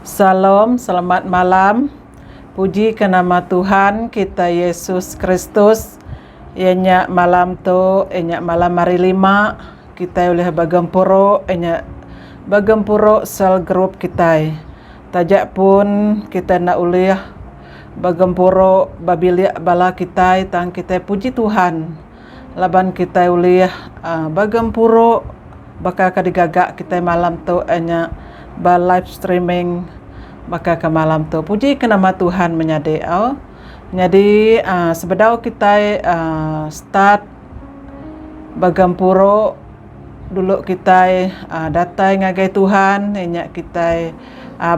Shalom, selamat malam. Puji ka nama Tuhan kita Yesus Kristus. Iya nya malam tu iya nya malam hari lima kitai ulih begempuru iya nya begempuru cell group kitai. Taja pun kitai enda ulih begempuru ba bilik bala kitai tang kitai puji Tuhan. laban kitai ulih begempuru baka ke digaga kitai malam tu iya nya ba live streaming baka ke malam tu puji ke nama Tuhan menyadi au nyadi sebedau kitai start begempuru. Dulu kitai datai ngagai Tuhan inya kitai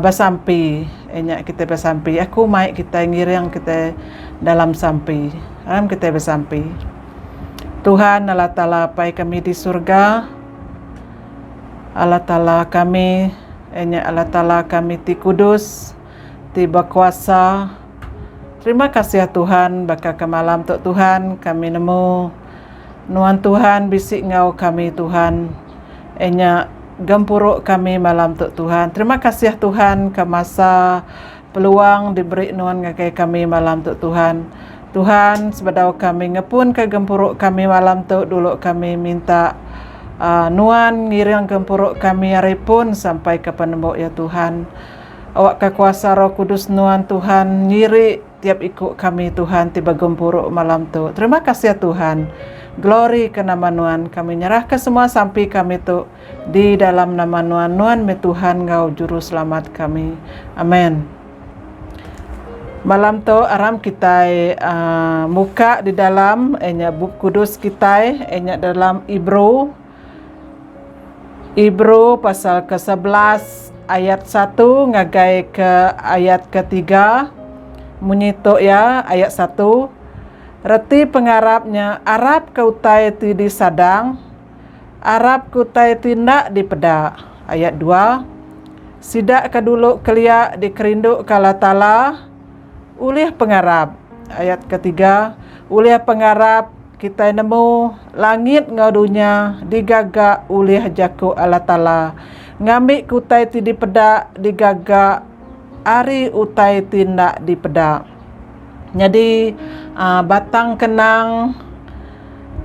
besampi inya kitai besampi aku mai kitai ngiring kitai dalam sampi dalam kitai besampi Tuhan Allah Taala apai kami di surga Allah Taala kami inya Allah Taala kami ti kudus ti bekuasa terima kasih Tuhan baka ke malam tu Tuhan kami nemu. Nuan Tuhan bisi enggau kami Tuhan enya gempuru kami malam tu Tuhan terima kasih Tuhan ke masa peluang diberi nuan ngagai kami malam tu Tuhan Tuhan sebedau kami ngepun ke gempuru kami malam tu dulu kami minta aaa nuan ngiring gempuru kami ari pun sampai ke penemu ya Tuhan awakka kuasa roh kudus nuan Tuhan nyiri. Tiap iku kami Tuhan ti ba gempuru malam tu. Terima kasih Tuhan. Glory ke nama Nuan. Kami nyerah ke semua sampi kami tu di dalam nama Nuan. Nuan meh Tuhan enggau Juru Selamat kami. Amen. Malam tu aram kitai muka di dalam inya Bup Kudus kitai inya dalam Ibru. Ibru pasal ke sebelas ayat satu ngagai ke ayat ke tiga munyi tu iya ayat satu reti pengarap nya arap ke utai ti disadang arap ke utai ti enda dipeda ayat dua sida ke dulu kelia dikerindu ke Allah taala ulih pengarap ayat ke tiga ulih pengarap Kitai nemu, langit enggau dunya digaga ulih jaku Allah Taala. Ngambika utai ti dipeda digaga ari utai ti enda dipeda. Nyadi, batang kenang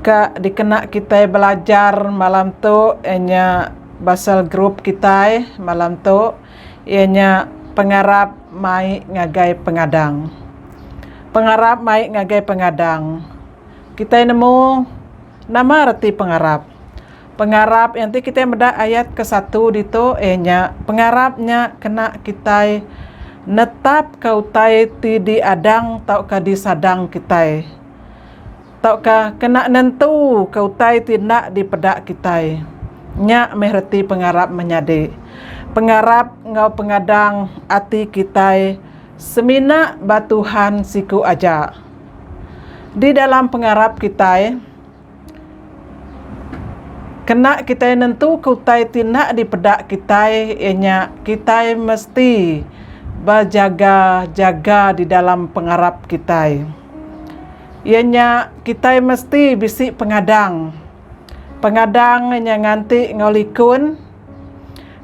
ke dikena kitai belajar malam tu iya nya pasal group kitai malam tu. iya nya pengarap mai ngagai pengadang. Pengarap mai ngagai pengadang. Kitai nemu nama reti pengarap. Pengarap iya enti kitai meda ayat ke satu ditu iya nya pengarap nya kena kitai netapka utai ti diadang tauka disadang kitai. tauka kena nentuka utai ti enda dipeda kitai. Nya meh reti pengarap menyadi. Pengarap enggau pengadang ati kitai semina ba Tuhan siku aja. Di dalam pengarap kitai, kena kitai nentuka utai ti enda dipeda kitai iya nya kitai mesti bejaga-jaga di dalam pengarap kitai. iya nya kitai mesti bisi pengadang, pengadang inya nganti enggau likun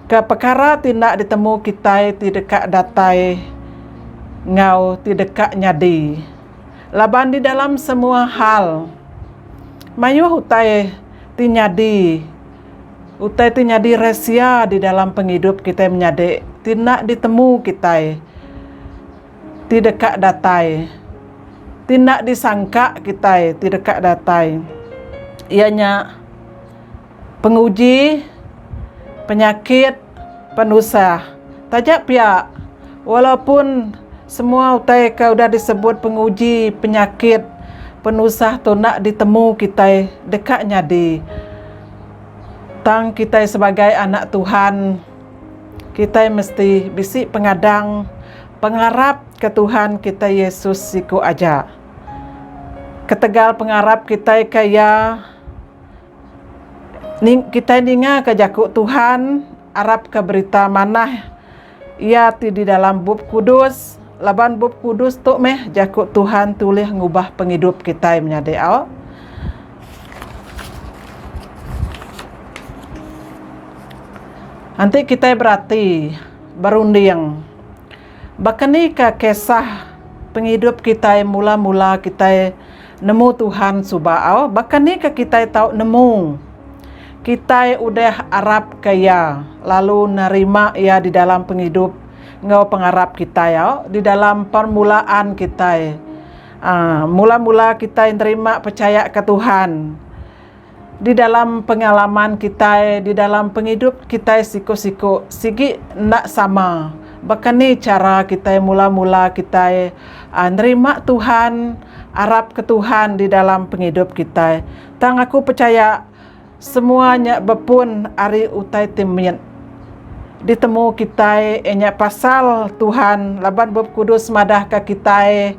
ke pekara ti enda ditemu kitai ti deka datai enggau ti deka nyadi laban di dalam semua hal mayuh utai ti nyadi utai ti nyadi rahsia di dalam pengidup kitai menyadi ti enda ditemu kitai. ti deka datai. Ti enda disangka kitai ti deka datai iya nya penguji, penyakit, penusah. Taja pia walaupun semua utai ke udah disebut penguji, penyakit, penusah tu enda ditemu kitai deka nyadi tang kitai sebagai anak Tuhan. Kitai mesti bisi pengadang pengarap ke Tuhan kitai Yesus siku aja. Ketegal pengarap kitai ke iya, kitai ninga ke jaku Tuhan arap ke berita manah iya ti di dalam Bup Kudus laban Bup Kudus tu meh jaku Tuhan ti ulih ngubah pengidup kitai menyadi au. Enti kitai berati, berunding, baka ni ka kisah pengidup kitai mula-mula kitai nemu Tuhan suba au? Baka ni ka kitai tau nemu kitai udah arapka Iya lalu nerima Iya di dalam pengidup enggau pengarap kitai au? Di dalam permulaan kitai. Mula-mula kitai nerima pechayaka Tuhan di dalam pengalaman kitai di dalam pengidup kitai siku-siku sigi enda sama. Baka ni chara kitai mula-mula kitai nerima Tuhan, arapka Tuhan di dalam pengidup kitai. Tang aku pechaya. Semua nya bepun ari utai ti mit ditemu kitai iya nya pasal Tuhan laban Bup Kudus madahka kitai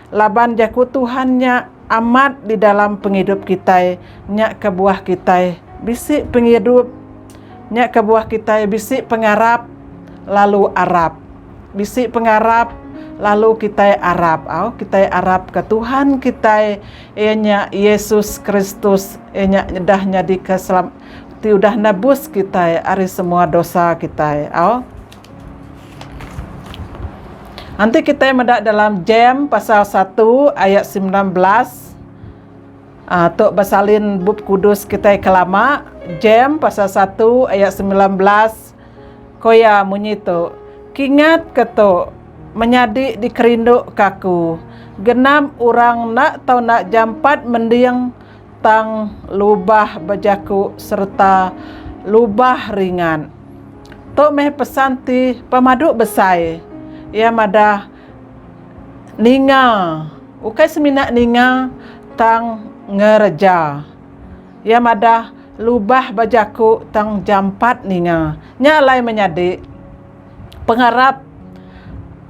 laban jaku Tuhan nya amat di dalam pengidup kitai nya kebuah kitai bisi pengidup nya kebuah kitai bisi pengarap lalu arap bisi pengarap lalu kitai arap au kitai arapka Tuhan kitai Iya nya Yesus Kristus. Iya nya udah nyadika selam ti udah nebus kitai ari semua dosa kitai. Au. Enti kitai meda dalam Jem pasal satu ayat sembilan belas ah tu besalin Bup Kudus kitai ke lama, Jem pasal satu ayat sembilan belas. Ko iya munyi tu, Kingat ke tu, menyadi dikerinduka aku, genap orang enda tau enda jampat mending tang lubah bejaku sereta lubah ringat. Tu meh pesan ti pemadu besai. Iya madah ninga, ukai semina ninga tang ngereja. Iya madah, Lubah ba jaku tang jampat ninga. Nya alai menyadi, pengarap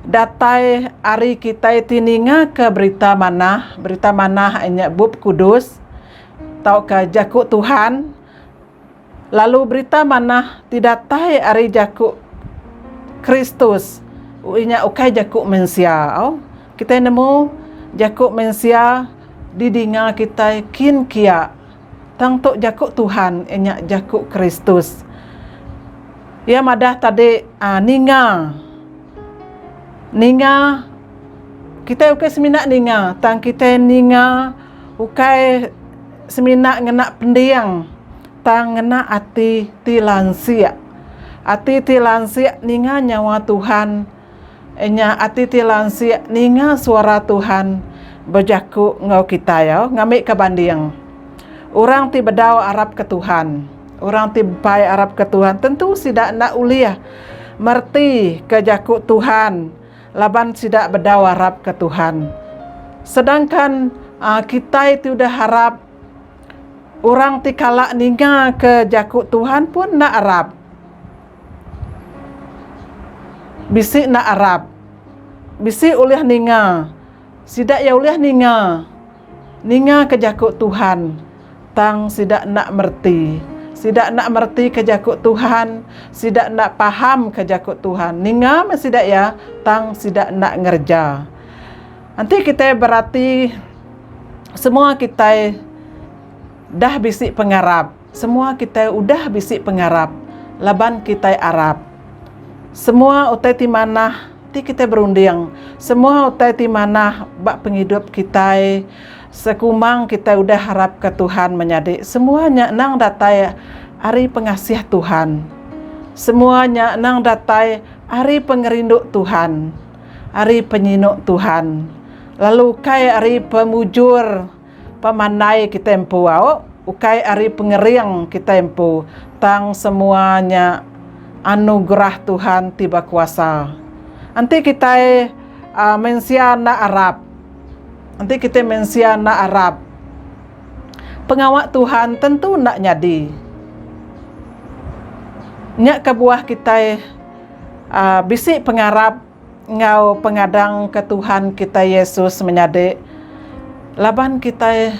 datai ari kitai ti ningaka berita manah, berita manah nya Bup Kudus tauka Jaku Tuhan. Lalu Berita Manah ti datai ari jaku Kristus inya ukai jaku mensia. Au, kitai nemu jaku mensia didinga kitai kin kia. Tang tu jaku Tuhan inya jaku Kristus. Iya madah tadi aaa ninga. Ninga kitai ukai semina ninga tang kitai ninga. ukai semina ngena pending tang ngena ati ti lansik. Ati ti lansik ninga nyawa Tuhan inya ati ti lansik ninga suara Tuhan bejaku enggau kitai au ngambika banding. Orang ti bedau arapka Tuhan, orang ti bepai arapka Tuhan tentu sida enda ulih mereti ke jaku Tuhan. Laban sida bedau arapka Tuhan. Sedangkan kitai ti udah arap, orang ti kala ningaka jaku Tuhan pun enda arap. Bisi enda arap. Bisi ulih ninga. Sida iya ulih ninga. Ningaka jaku Tuhan. Tang sida enda mereti. Sida enda meretika jaku Tuhan, sida enda pahamka jaku Tuhan. Ninga meh sida iya, tang sida enda ngereja. Enti kitai berati, semua kitai dah bisi pengarap. Semua kitai udah bisi pengarap laban kitai arap. Semua utai ti manah ti kitai berunding, semua utai ti manah ba pengidup kitai. Sekumbang kitai udah harapka Tuhan menyadi semua nya endang datai ari pengasih Tuhan. Semua nya endang datai ari pengerindu Tuhan, ari penyinu Tuhan, lalu ukai ari pemujur pemandai kitai empu au ukai ari pengering kitai empu tang semua nya anugerah Tuhan ti bekuasa. Enti kitai mensia enda arap. Enti kitai mensia enda arap, pengawa Tuhan tentu enda nyadi. Nya kebuah kitai aaa bisi pengarap enggau pengadang ke Tuhan kitai Yesus menyadi laban kitai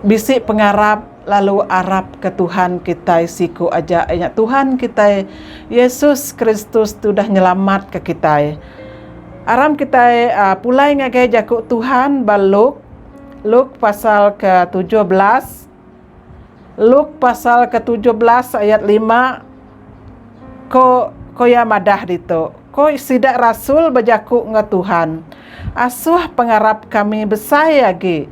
bisi pengarap. lalu arap ke Tuhan kitai siku aja ianya Tuhan kitai Yesus Kristus tu udah nyelamat ke kitai. Aram kitai aa pulai ngagai jaku Tuhan ba Luk Luk pasal ke tujuh belas Luk pasal ke tujuh belas ayat lima ko ko iya madah ditu ko sida rasul bejaku enggau Tuhan asuh pengarap kami besai agi.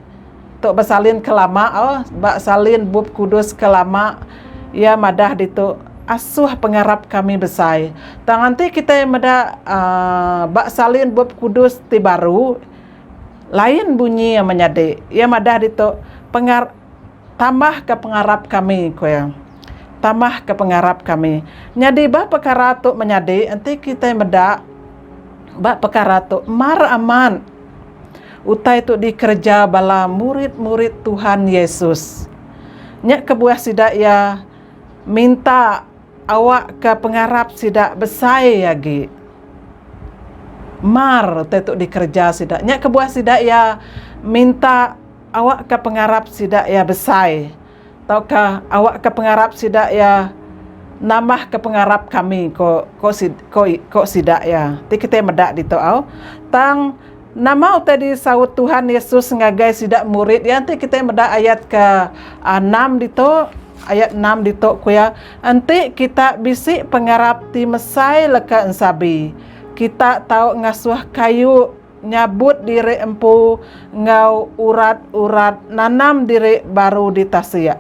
Tu besalin ke lama ba salin bup kudus ke lama iya madah ditu asuh pengarap kami besai tang enti kitai meda aaa ba salin bup kudus ti baru lain bunyi iya menyadi iya madah ditu penga tambah ke pengarap kami ku iya tambah ke pengarap kami nyadi ba pekara tu menyadi enti kitai meda ba pekara tu mar amat. Utai tu dikereja bala murid-murid Tuhan Yesus. Nya kebuah sida iya minta awakka pengarap sida besai agi. Mar utai tu dikereja sida. Nya kebuah sida iya minta awakka pengarap sida iya besai. tauka awakka pengarap sida iya nambahka pengarap kami ko sida iya ti kitai meda ditu au tang nama utai disaut Tuhan Yesus ngagai sida murid iya enti kitai meda ayat ke enam ditu ayat enam ditu ku iya enti kita bisi pengarap ti mesai leka ensabi kita tau ngasuh kayu. Nyabut diri empu enggau urat-urat nanam diri baru ditasik,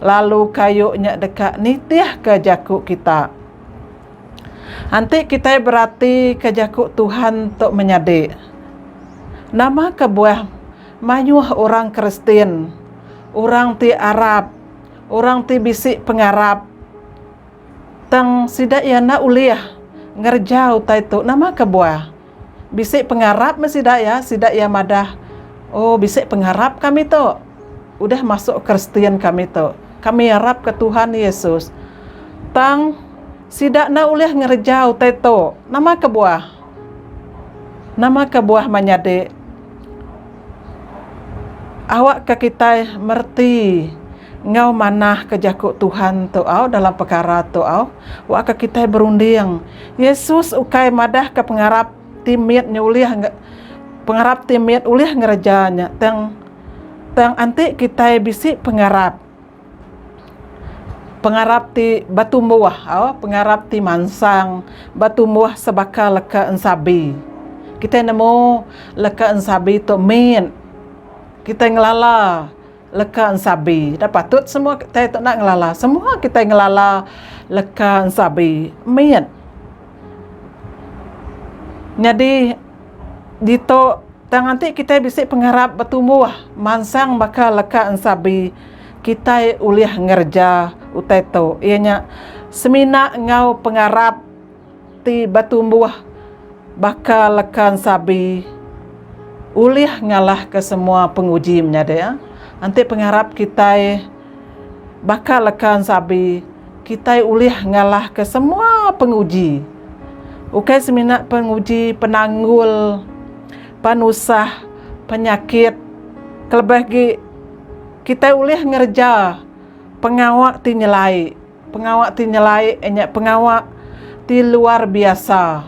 lalu kayu nya deka nitihka jaku kita. Enti kitai beratika jaku Tuhan tu menyadi, nama kebuah mayuh orang Kristian, orang ti arap, orang ti bisi pengarap tang sida iya enda ulih ngereja utai tu? Nama kebuah? Bisi pengarap meh sida iya, sida iya madah, Oh, bisi pengarap kami tu. Udah masuk Kristian kami tu, kami arapka Tuhan Yesus. Tang, sida enda ulih ngereja utai tu. Nama kebuah? Nama kebuah menyadi awakka kitai mereti. enggau manah ke jaku Tuhan tu au dalam pekara tu au wa ke kitai berunding. Yesus ukai madah ke pengarap ti mit nya ulih pengarap ti mit ulih ngereja nya tang tang enti kitai bisi pengarap pengarap ti betumbuh au pengarap ti mansang betumbuh sebaka leka ensabi. Kitai nemu leka ensabi tu mit kitai ngelala. Leka ensabi. Da patut semua kitai tu enda ngelala. Semua kitai ngelala leka ensabi mit. Nyadi ditu tang enti kitai bisi pengarap betumbuh mansang baka leka ensabi kitai ulih ngereja utai tu iya nya semina enggau pengarap Ti batumbuh baka leka ensabi ulih ngalahka semua penguji menyadi. Enti pengarap kitai baka leka ensabi, kitai ulih ngalahka semua penguji. Ukai semina penguji penanggul, penusah, penyakit. Kelebih agi kitai ulih ngereja pengawa ti nyelai. Pengawa ti nyelai nya pengawa ti luar biasa.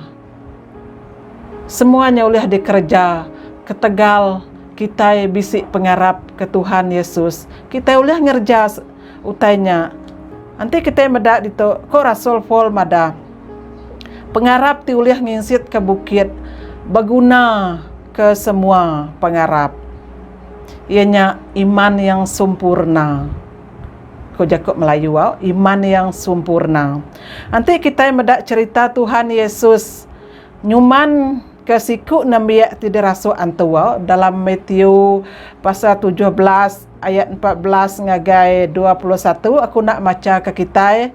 Semua nya ulih dikereja ketegal kitai bisi pengarap ke Tuhan Yesus. Kitai ulih ngereja utai nya. Enti kitai meda ditu, ko rasul Paul madah, pengarap ti ulih nginsitka bukit beguna ke semua pengarap, iya nya iman yang sempurna. Ku jaku Melayu au, iman yang sumpurna. Enti kitai meda cherita Tuhan Yesus nyuman ke siku nembiak ti dirasuk antu au dalam Matthew pasal tujuh belas ayat empat belas ngagai dua puluh satu aku enda macha ke kitai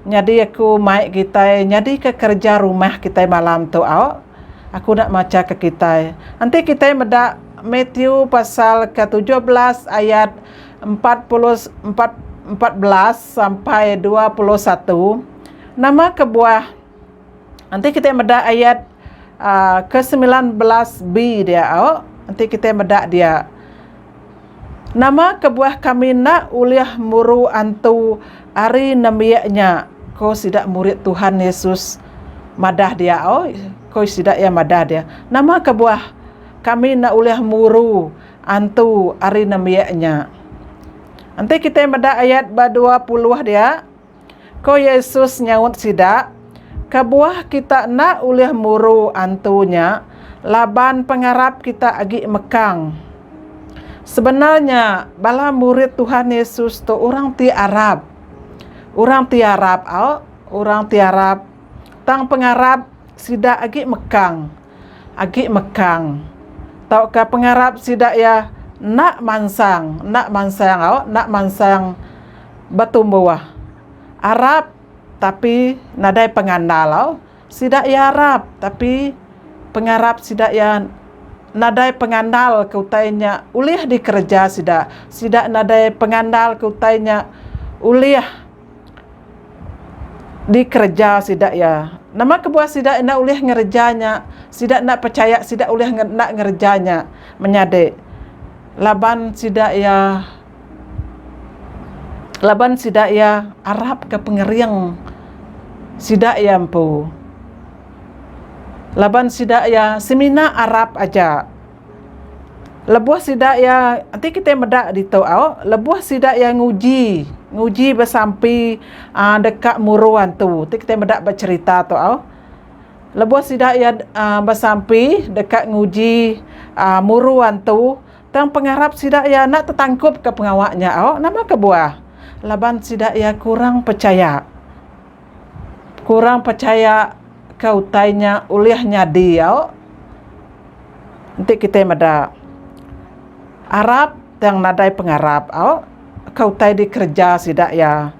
nyadi aku mai kitai nyadi ke kerja rumah kitai malam tu au aku enda macha ke kitai. Enti kitai meda Matthew pasal ke tujuh belas ayat empat puluh empat empat belas sampai dua puluh satu nama kebuah enti kita meda ayat aaa ke semilan belas B dia au enti kita meda dia nama kebuah kami enda ulih muru antu ari nembiak nya ko sida murid Tuhan Yesus madah dia au ko sida iya madah dia nama kebuah kami enda ulih muru Antu ari nembiak nya. Enti kitai meda ayat ba dua puluh dia, ko Yesus nyaut sida, Kebuah kita enda ulih muru antu nya laban pengarap kita agi mekang. Sebenar nya bala murid Tuhan Yesus tu orang ti arap. Orang ti arap au orang ti arap tang pengarap sida agi mekang. agi mekang tauka pengarap sida iya enda mansang enda mansang au enda mansang betumbuh arap tapi nadai pengandal au sida iya arap tapi pengarap sida iya nadai pengandal ke utai nya ulih dikereja sida sida nadai pengandal ke utai nya ulih. Dikereja sida iya. Nama kebuah sida enda ulih ngereja nya? Sida enda pechaya sida ulih enda ngereja nya. Menyadi laban sida iya laban sida iya arapka pengering sida iya empu. Laban sida iya semina arap aja. Lebuh sida iya, enti kitai meda ditu au, lebuh sida iya nguji, nguji besampi aaa deka muru antu. Ti kitai meda ba cherita tu au. Lebuh sida iya aaa besampi deka nguji aaa muru antu, tang pengarap sida iya enda tetangkupka pengawa nya au. Nama kebuah? Laban sida iya kurang pechaya. kurang pechaya ke utai nya ulih nyadi au enti kitai meda arap tang nadai pengarap au ke utai dikereja sida iya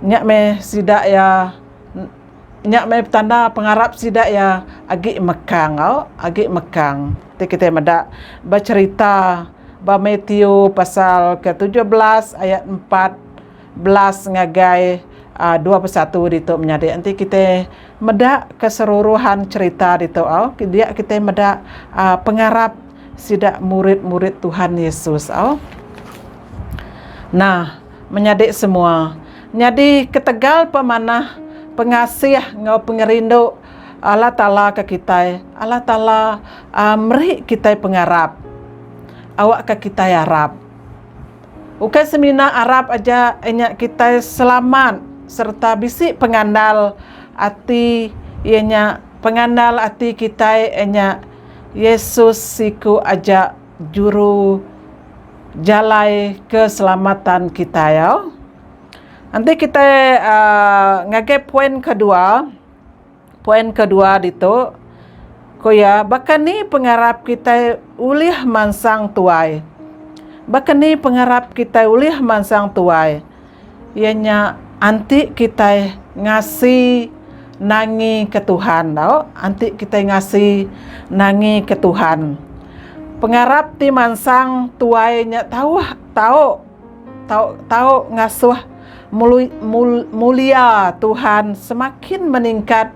nya meh sida iya nya meh tanda pengarap sida iya agi mekang au agi mekang enti kitai meda ba cherita ba Mathew pasal ke tujuh belas ayat empat. belas ngagai dua puluh satu ditu menyadi enti kita meda keseluruhan cerita ditu dia kita meda pengarap sida murid-murid Tuhan Yesus nah menyadi semua nyadi ketegal pemanah pengasih enggau pengerindu Allah Taala ke kitai Allah Taala meri kitai pengarap awakka kitai arap. Ukai semina arap aja inya kitai selamat sereta bisi pengandal ati iya nya pengandal ati kitai iya nya Yesus siku aja juru jalai keselamatan kitai au. Enti kitai aaa ngagai poin kedua. Poin kedua ditu, ku iya, baka ni pengarap kitai ulih mansang tuai? Baka ni pengarap kitai ulih mansang tuai? Iya nya anti kitai ngasi nangika Tuhan tau, anti kitai ngasi nangika Tuhan. Pengarap ti mansang tuai nya tauh tau. Tau tau ngasuh mulia Tuhan semakin meningkat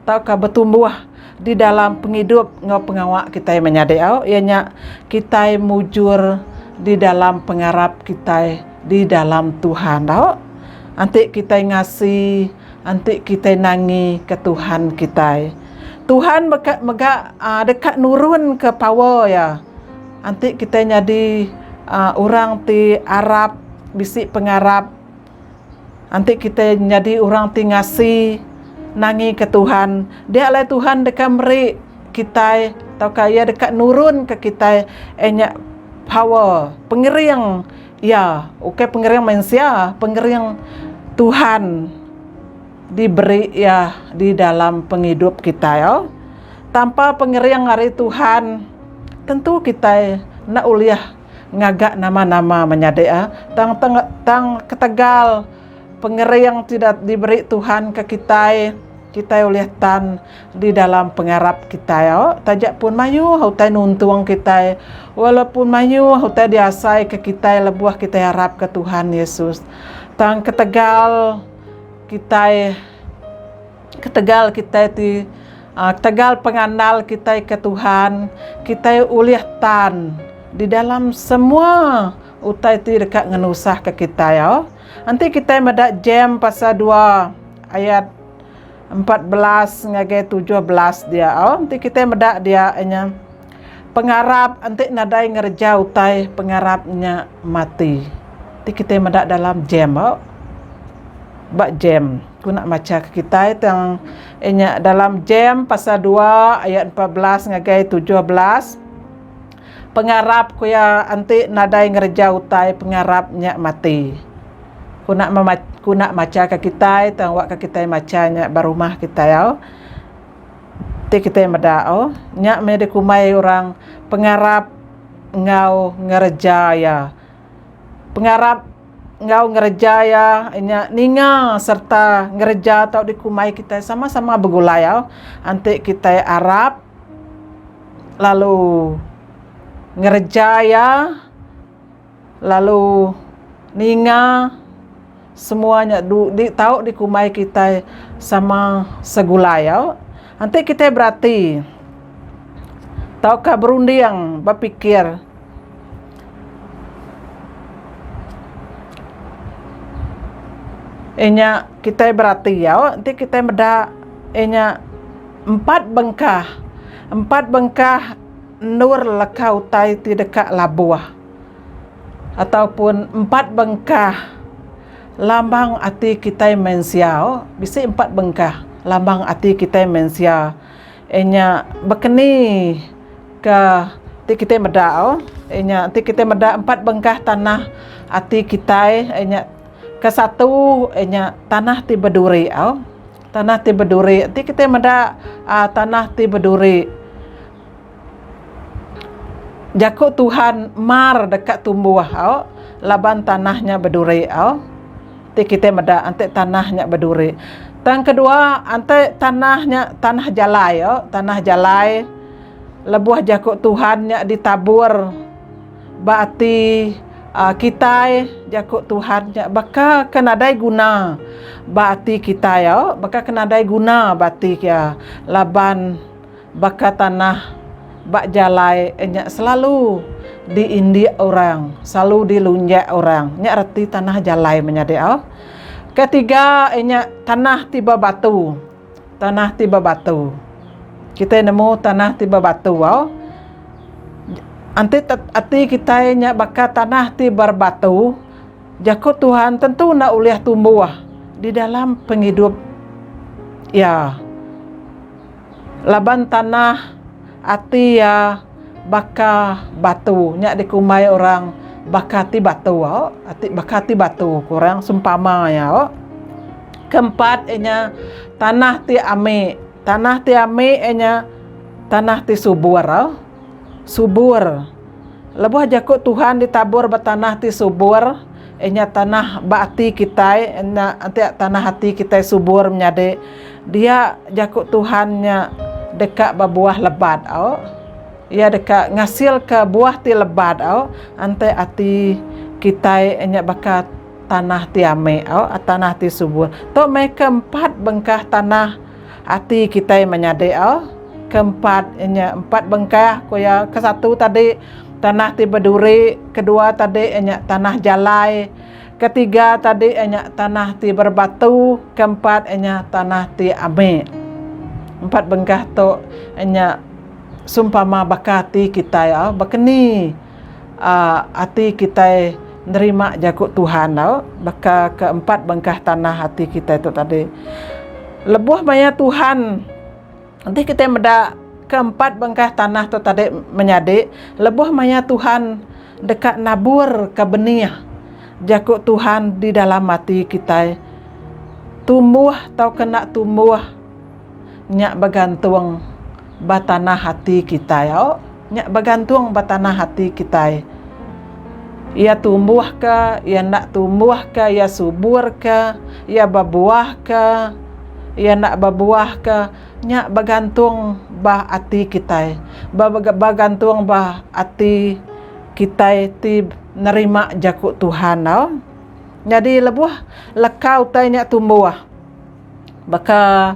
tauka betumbuh di dalam pengidup enggau pengawa kitai menyadi iya nya kitai mujur di dalam pengarap kitai di dalam Tuhan tau enti kitai ngasi enti kitai nangi ke Tuhan kitai. Tuhan mega deka nurun ke power iya. Enti kitai nyadi orang ti arap, bisi pengarap, enti kitai nyadi orang ti ngasi nangika Tuhan, dia alai Tuhan deka meri kitai tauka iya deka nurunka kitai eh nya power, pengering iya, ukai pengering mensia, pengering Tuhan. diberi iya di dalam pengidup kitai tanpa pengering ari Tuhan tentu kitai enda ulih ngaga nama-nama menyadi tang tang ketegal pengering ti diberi Tuhan ke kitai kitai ulih tan di dalam pengarap kitai taja pun mayuh utai nuntung kitai walaupun mayuh utai diasai ke kitai lebuh kitai arap ke Tuhan Yesus tang ketegal. kitai ketegal kitai ti ketegal pengandal kitai ke Tuhan kitai ulih tan di dalam semua utai ti deka ngenusahka kitai au. Enti kitai meda Jem pasal dua ayat empat belas ngagai tujuh belas dia au enti kitai meda dia inya. Pengarap enti nadai ngereja utai pengarap nya mati. Ti kitai meda dalam jam ba ba jam ku nak macha ke kitai tang inya dalam jam pasal dua ayat empat belas ngagai tujuh belas pengarap ku iya enti nadai ngereja utai pengarap nya mati. Ku nak mema ku nak macha ke kitai tang awakka kitai macha nya ba rumah kitai au. Ti kitai meda o, nya meh dikumbai orang pengarap enggau ngereja iya. Pengarap enggau ngereja iya nya ninga sereta ngereja tau dikumbai kitai sama-sama begulai au. Enti kitai arap lalu ngereja iya. Lalu ninga semua nya di tau dikumbai kitai sama segulai au, enti kitai berati tauka berunding bepikir inya kitai berati au enti kitai meda inya empat bengkah, empat bengkah endur leka utai ti deka labuh. ataupun empat bengkah lambang ati kitai mensia bisi empat bengkah lambang ati kitai mensia iya nya bekeni ke ti kitai meda iya nya ti kitai meda empat bengkah tanah ati kitai iya nya ke satu iya nya tanah ti beduri tanah ti beduri ti kitai meda tanah ti beduri. Jaku Tuhan mar deka tumbuh au laban tanah nya beduri au. Ti kitai meda enti tanah nya beduri. Tang kedua enti tanah nya tanah jalai au tanah jalai lebuh jaku Tuhan nya ditabur ba ati aaa kitai jaku Tuhan nya baka ke nadai guna ba ati kitai au baka ke nadai guna ba ati iya laban Baka tanah ba jalai nya selalu diindik orang, selalu dilunjak orang. Nya reti tanah jalai menyadi au. Ketiga inya tanah ti bebatu. Tanah ti bebatu. Kitai nemu tanah ti bebatu au. Enti ati kitai nya baka tanah ti berbatu, jaku Tuhan tentu enda ulih tumbuh di dalam pengidup iya. Laban tanah ati iya baka batu nya dikumbai orang baka ati batu ati baka ati batu ku orang sempama iya. Keempat iya nya tanah ti ami tanah ti ami iya nya tanah ti subur subur lebuh jaku Tuhan ditabur ba tanah ti subur iya nya tanah ba ati kitai enti tanah ati kitai subur menyadi. Dia jaku Tuhan nya deka bebuah lebat au. Iya deka ngasilka buah ti lebat au enti ati kitai nya baka tanah ti ame au, tanah ti subur. Tu meh ke empat bengkah tanah ati kitai menyadi au. Ke empat nya empat bengkah ku iya, ke satu tadi tanah ti beduri, ke dua tadi nya tanah jalai. Ketiga tadi iya nya tanah ti berbatu, keempat iya nya tanah ti amik. Empat bengkah tu iya nya seumpama baka ati kitai au ba keni aaa ati kitai nerima jaku Tuhan au baka ke empat bengkah tanah ati kitai tu tadi. Lebuh maya Tuhan. Enti kitai meda ke empat bengkah tanah tu tadi menyadi, lebuh maya Tuhan deka naburka benih jaku Tuhan di dalam ati kitai, tumbuh tauka enda tumbuh nya begantung ba tanah ati kitai. Au. Nya begantung ba tanah ati kitai. Iya tumbuh ke, iya enda tumbuh ke, iya subur ke, iya bebuah ke, iya enda bebuah ke, nya begantung ba ati kitai. Ba begantung ba ati kitai ti nerima jaku Tuhan tau. Nyadi lebuh leka utai nya tumbuh baka.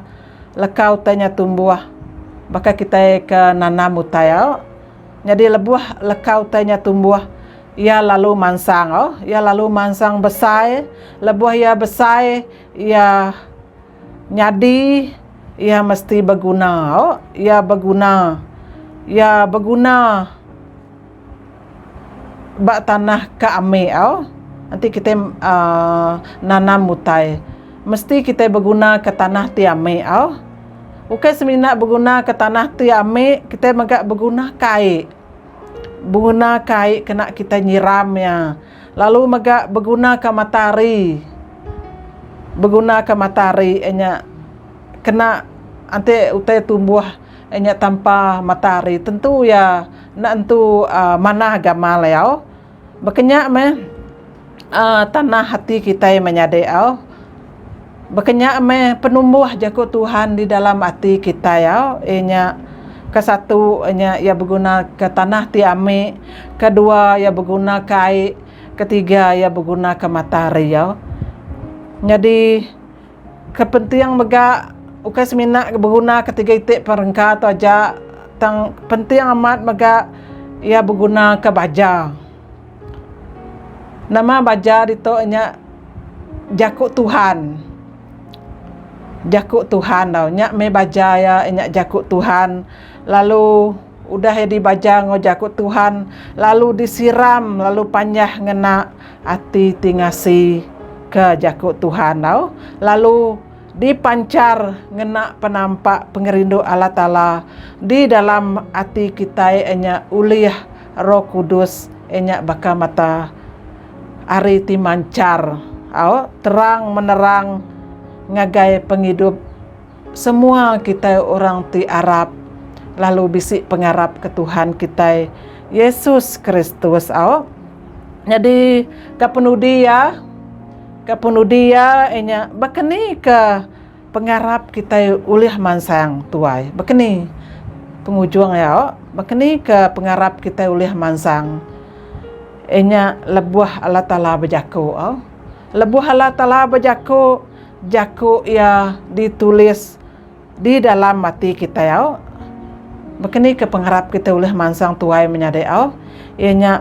leka utai nya tumbuh. Baka kitai ke nanam utai au, nyadi lebuh leka utai nya tumbuh, iya lalu mansang au, iya lalu mansang besai. Lebuh iya besai, iya nyadi, iya mesti beguna au, iya beguna, iya beguna. ba tanah ka ami au enti kitai aaa nanam utai mesti kitai beguna ka tanah ti ami au ukai semina beguna ka tanah ti ami kitai mega beguna ka ai beguna ka ai kena kitai nyiram iya lalu mega beguna ka matahari beguna ka matahari inya kena enti utai tumbuh. Nya tampa matahari tentu iya enda entu manah gamal iya. Baka nya meh tanah ati kitai menyadi iya. Baka nya meh penumbuh jaku Tuhan di dalam ati kitai iya inya ke satu inya iya beguna ke tanah ti ami, ke dua iya beguna ke ai, ke tiga iya beguna ke matahari iya. Nyadi. Ke penting mega ukai semina ke beguna ketegal iti perengka tu aja tang penting amat mega iya beguna ke baja. Nama baja ditu nya jaku Tuhan. Jaku Tuhan tau nya meh baja iya nya jaku Tuhan lalu. Udah iya dibaja enggau jaku Tuhan lalu disiram lalu panjah ngena ati ti ngasi ke jaku Tuhan tau lalu dipanchar ngena penampa pengerindu Allah Taala di dalam ati kitai inya ulih Roh Kudus inya baka mata ari ti manchar au terang menerang ngagai pengidup Semua kitai orang ti arap lalu bisi pengarap ke Tuhan kitai Yesus Kristus au. Nyadi ka penudi iya ka penudi iya inya baka ni ka pengarap kitai ulih mansang tuai baka ni pengujung iya au baka ni ka pengarap kitai ulih mansang inya lebuh Allah Taala bejaku au lebuh Allah Taala bejaku Jaku iya ditulis di dalam ati kitai au. Bekeni ke pengarap kitai ulih mansang tuai menyadi au? Iya nya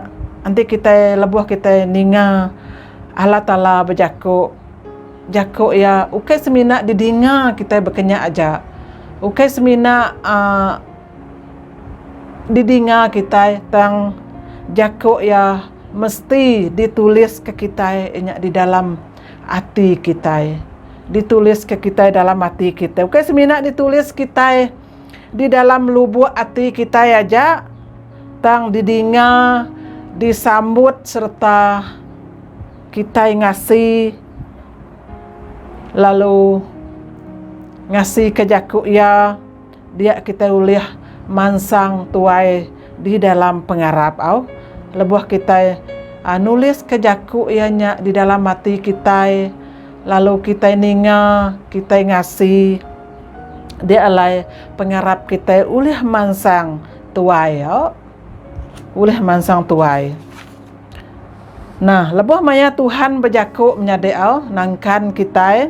enti kitai lebuh kitai ninga Allah Taala bejaku, jaku iya ukai semina didinga kitai bekenya aja, ukai semina aaa didinga kitai tang jaku iya mesti ditulis ke kitai inya di dalam Ati kitai. Dituliska kitai dalam ati kitai. Ukai semina ditulis kitai di dalam lubuk ati kitai aja, tang didinga, disambut sereta kitai ngasi lalu ngasika jaku iya. Dia kitai ulih mansang tuai di dalam pengarap au lebuh kitai nuliska jaku iya nya di dalam ati kitai lalu kitai ninga kitai ngasi dia alai pengarap kitai ulih mansang tuai au ulih mansang tuai nah lebuh maya Tuhan bejaku menyadi au nangkan kitai.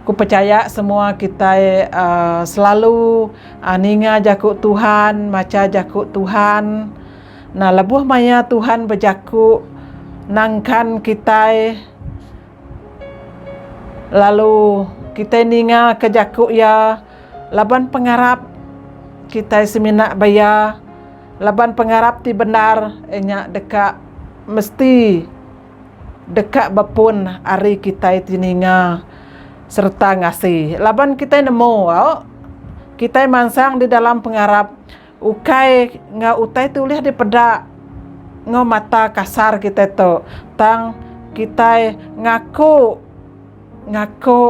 Ku pechaya semua kitai selalu ninga jaku Tuhan, macha jaku Tuhan. Nah lebuh maya Tuhan bejaku nangkan kitai lalu kitai ninga ka jaku iya laban pengarap kitai semina ba iya laban pengarap ti bendar nya deka mesti. deka bepun ari kitai ti ninga sereta ngasi laban kitai nemu kitai mansang di dalam pengarap ukai enggau utai ti ulih dipeda enggau mata kasar kitai tu tang kitai ngaku ngaku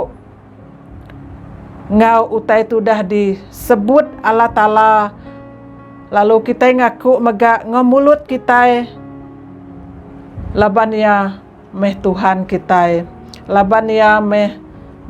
enggau utai ti udah disebut Allah Taala lalu kitai ngaku mega enggau mulut kitai laban iya meh Tuhan kitai laban iya meh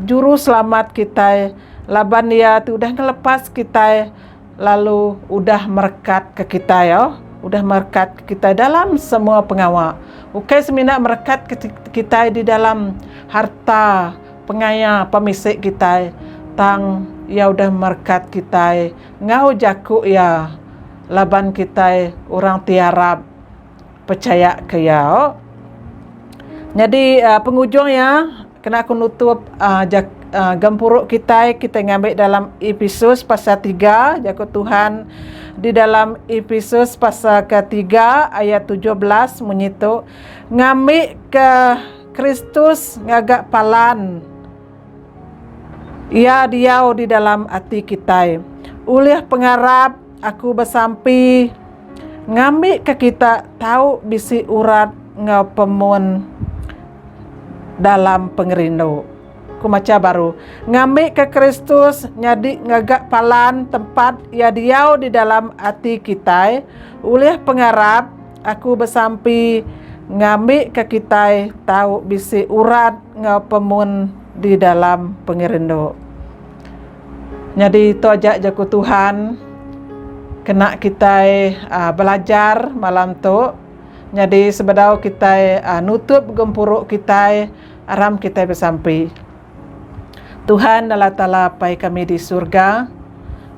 juruselamat kitai laban iya ti udah ngelepas kitai lalu udah merekat ke kitai udah merekat ke kitai dalam semua pengawa ukai semina merekat kitai di dalam harta. Pengaya pemisi kitai tang iya udah merekat kitai enggau jaku iya laban kitai orang ti arap pechaya ke iya. Nyadi pengujung iya kena ku nutup jaku gempuru kitai kitai ngambi dalam Episus pasal tiga jaku Tuhan di dalam Episus pasal ke tiga ayat tujuh belas munyi tu ngambi ke Kristus ngaga palan Iya diau di dalam ati kitai. Ulih pengarap aku besampi ngambika kita tau bisi urat enggau pemun dalam pengerindu. Ku macha baru, ngambika Kristus nyadi ngaga palan tempat Iya diau di dalam ati kitai, ulih pengarap Aku besampi ngambika kitai tau bisi urat enggau pemun di dalam pengerindu. Nyadi tu aja jaku Tuhan kena kitai belajar malam tu. Nyadi sebedau kitai nutup gempuru kitai aram kitai besampi. Tuhan Allah Taala Apai kami di surga,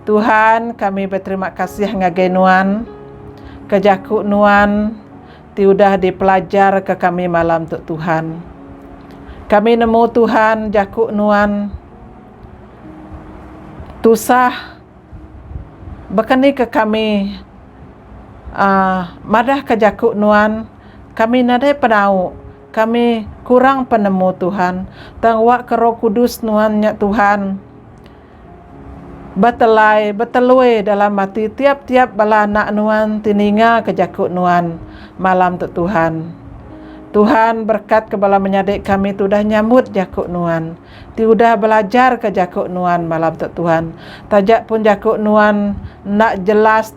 Tuhan kami beterima kasih ngagai Nuan ke jaku Nuan ti udah dipelajar ke kami malam tu Tuhan. Kami nemu Tuhan jaku Nuan tusah baka ni ke kami aaa madah ke jaku Nuan kami nadai penau. Kami kurang penemu Tuhan tang awak ke roh kudus nuan nya Tuhan betelai betelui dalam ati tiap tiap bala anak nuan ti ninga ke jaku nuan malam tu Tuhan. Tuhan berkat ke bala menyadi kami ti udah nyamut jaku nuan ti udah belajar ke jaku nuan malam tu Tuhan taja pun jaku nuan enda jelas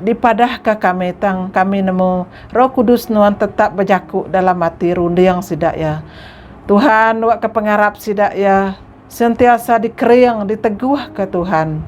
dipadahka kami tang kami nemu Roh Kudus nuan tetap bejaku dalam ati runding sida iya. Tuhan nuaka pengarap sida iya sentiasa dikering diteguhka Tuhan.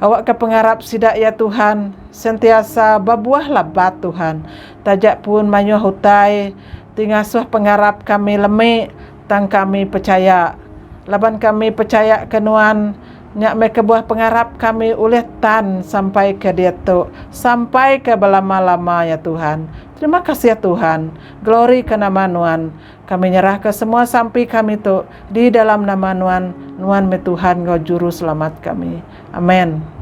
Awakka pengarap sida iya Tuhan sentiasa bebuah labat Tuhan. Taja pun mayuh utai ti ngasuh pengarap kami lemi tang kami pechaya laban kami pechayaka nuan. Nya meh kebuah pengarap kami ulih tan sampai ke diatu sampai ke belama-lama ya Tuhan. Terima kasih Tuhan. Glory ke nama Nuan. Kami nyerah ke semua sampi kami tu di dalam nama Nuan. Nuan meh Tuhan enggau Juru Selamat kami. Amen.